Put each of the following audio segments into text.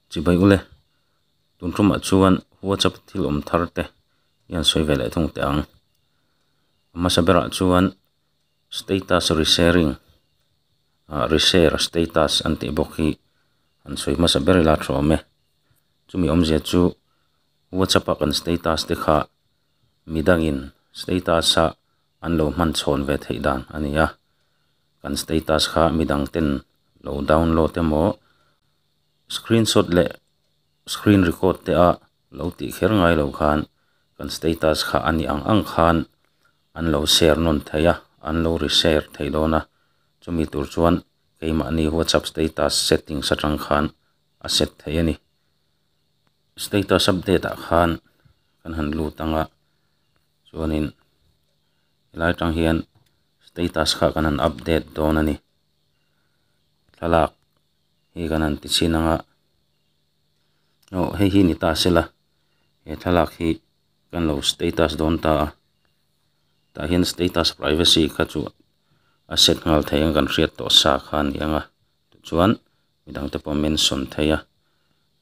Chi bai u le, tun ṭawmah chuan WhatsApp thil awm thar te hian sawi ve leh thung teh ang. Hmasa berah chuan status resharing ah reshare status an tih bawk hi an sawi hmasa ber ila ṭhu awm e. Chumi awmzia chu WhatsApp a kan status te kha mi dangin status a an lo hman chhawn ve theih dan a ni a, kan status kha midang ten lo download emaw screenshot leh screen record te a lo tih kher ngai lo khan kan status kha a ni ang ang khan an lo share nawn theih a, an lo re share theih dawn a, chumi tur chuan keimahni whatsapp status settings atang khan a set theih a ni. Status update ah khan kan han lut ang a. chuanin helai atang hian status kha kan han update dawn a ni thlalak hi kan han ti chhin ang a aw hei hi ni ta se la he thlalak hi kan lo status dawn ta a tah hian status privacy kha chu a set nghal thei ang kan hriat tawh sa kha a ni ang a tichuan-- midang te pawh mention thei a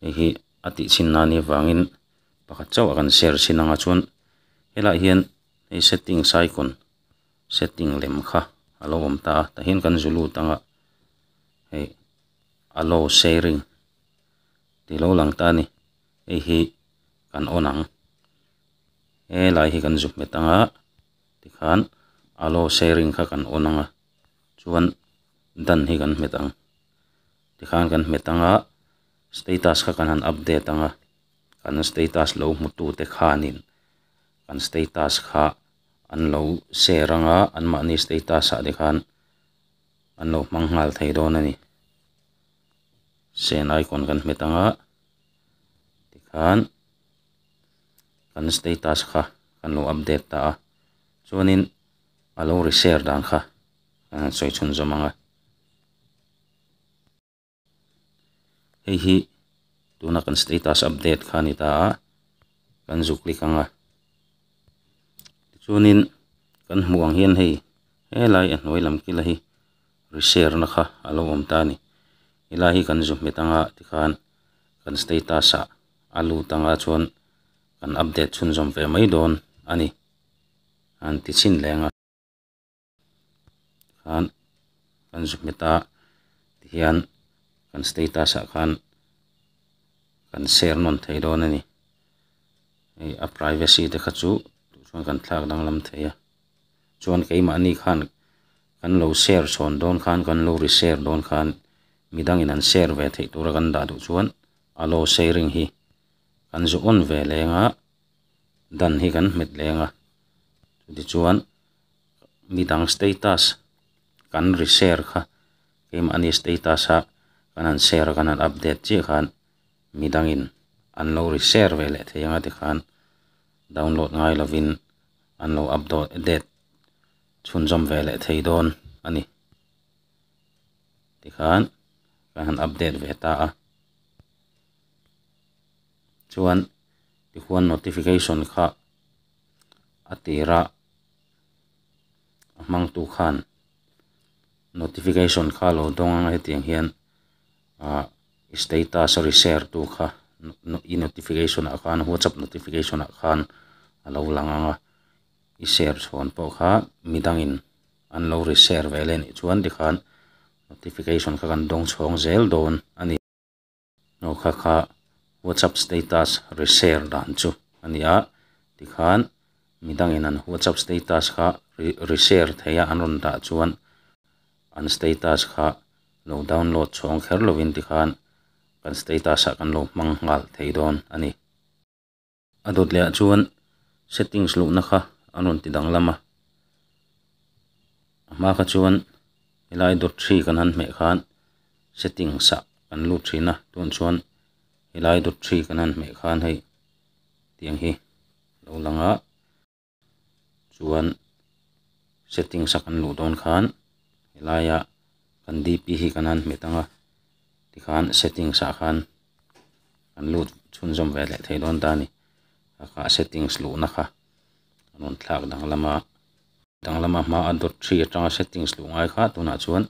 hei hi a tih chin nan hi vangin pakhat chauh a kan share chin anga chuan he lah hian hei settings a icon setting lem kha a lo awm ta a tah hian kan zu lut anga hei allow sharing tih lo lang ta a ni hei hi kan on ang he lah hi kan zuk hmet anga tikhan allow sharing kha kan on anga. chuan dan hi kan hmet ang tikhan kan hmet ang a status kha kan han update ang a kan status lo hmutu te khanin kan status kha an lo share ang a an mahni status ah te khan an lo hmang nghal thei dawn a ni send icon kan hmet ang a tikhan kan status kha kan lo update ta a chuanin-- a lo ri ser dan kha a rawn sawi chhun zawm ang a hei hi tuna kan status update kha a ni ta a kan zuk click ang a tichuanin kan hmuh ang hian hei helai a hnuai lam kil a hi ri ser na kha a lo awm ta a ni he lai hi kan zu hmet ang a tikhan kan status ah a lut ang a chuan kan update chhun zawm ve mai dawn a ni. an ti chhin leng a khan kan zuk hmet a tihian kan status ah khan kan share nawn theih dawn a ni hei a privacy te kha chu tûr chuan kan thlak danglam thei a chuan keimahni khan kan lo share chhawn dawn khan kan lo re share dawn khan midang in an share ve theih tûra kan dah duh chuan allow sharing hi kan zu âwn ve leng a. dan hi kan hmet leng a tichuan mi dang status kan ri share kha keimahni status a kan han share a kan han update chiah khan mi dangin an lo ri share ve leh thei ang a tikhan download ngai lovin an lo update chhunzawm ve leh thei dawn a ni tikhan kan han update ve ta a. chuan tihuan notification kha a tir a, a hmangtu khan notification kha a lo dawng ang a hetiang hian ah status a re-share tu kha i notification ah khan whatsapp notification ah khan a lo lang ang a, i share chhawn pawh kha mi dangin an lo re-share ve leh nih chuan tikhan notification kha kan dawng chhawng zel dawn a ni. Hnuhkha kha WhatsApp status re-share dan chu a ni a, tikhan midangin an WhatsApp status kha re-share theih a an rawn dah chuan an status kha lo download chhawng kher lovin tikhan kan status ah kan lo hmang nghal thei dawn a ni. A dawt leh ah chuan settings luhna kha an rawn ti danglam a, a hma kha chuan helai dawt three kan han hmeh khan settings ah kan lut thin a tunah chuan helai dawt three kan han hmeh khan hei tiang hi a lo lang a. chuan settings a kan luh dawn khan helaia kan dp hi kan han hmet ang a tikhan settings ah khan kan lut chhunzawm ve leh thei dawn ta a ni khakha settings luhna kha kan rawn thlak danglam a danglam a hmaa dawt ṭhi aṭanga settings luh ngai kha tunah chuan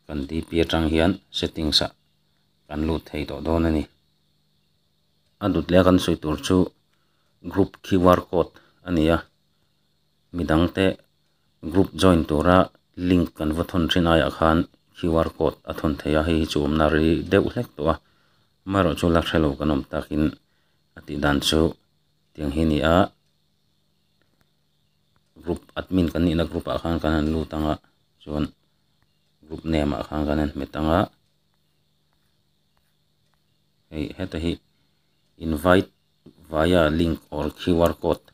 kan dp aṭang hian settings ah kan lut thei tawh dawn a ni. a dut leh a kan sawi tur chu group qr code a ni a mi dang te group join tura link kan va thawn thin aiah khan qr code a thawn theih a hei hi chu awmna ri deuh hlek tawh a amaherawh chu la hrelo kan awm takin a tih dan chu tiang hi a ni a group admin kan nihna group ah khan kan han lut ang a chuan group name ah khan kan han hmet ang a. hei heta hi invite via link or Q_R code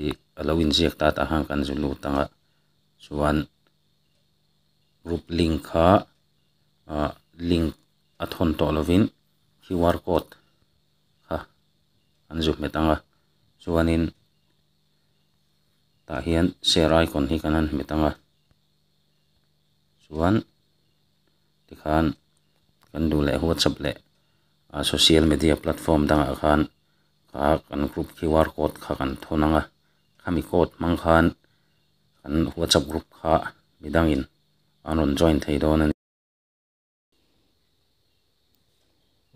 ih a lo inziak ta tah khan kan zul lut ang a chuan group link kha ah link a thawn tawh lo in Q_R code kha an zuk hmet ang a chuan in tah hian share icon hi kan han hmet ang a chuan-- tikhan kan duh leh whatsapp leh a social media platform dangah khan a kan group qr code kha kan thawn anga khami code hmang khan kan whatsapp group kha midangin an rawn join thei dawn a ni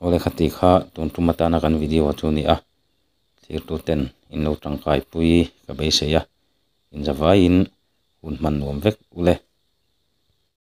aw le khati kha tun tum atana kan video chu a ni a thirtu ten in lo tangkai pui ka beisei a inzavaiin hun hman nuam vek ule.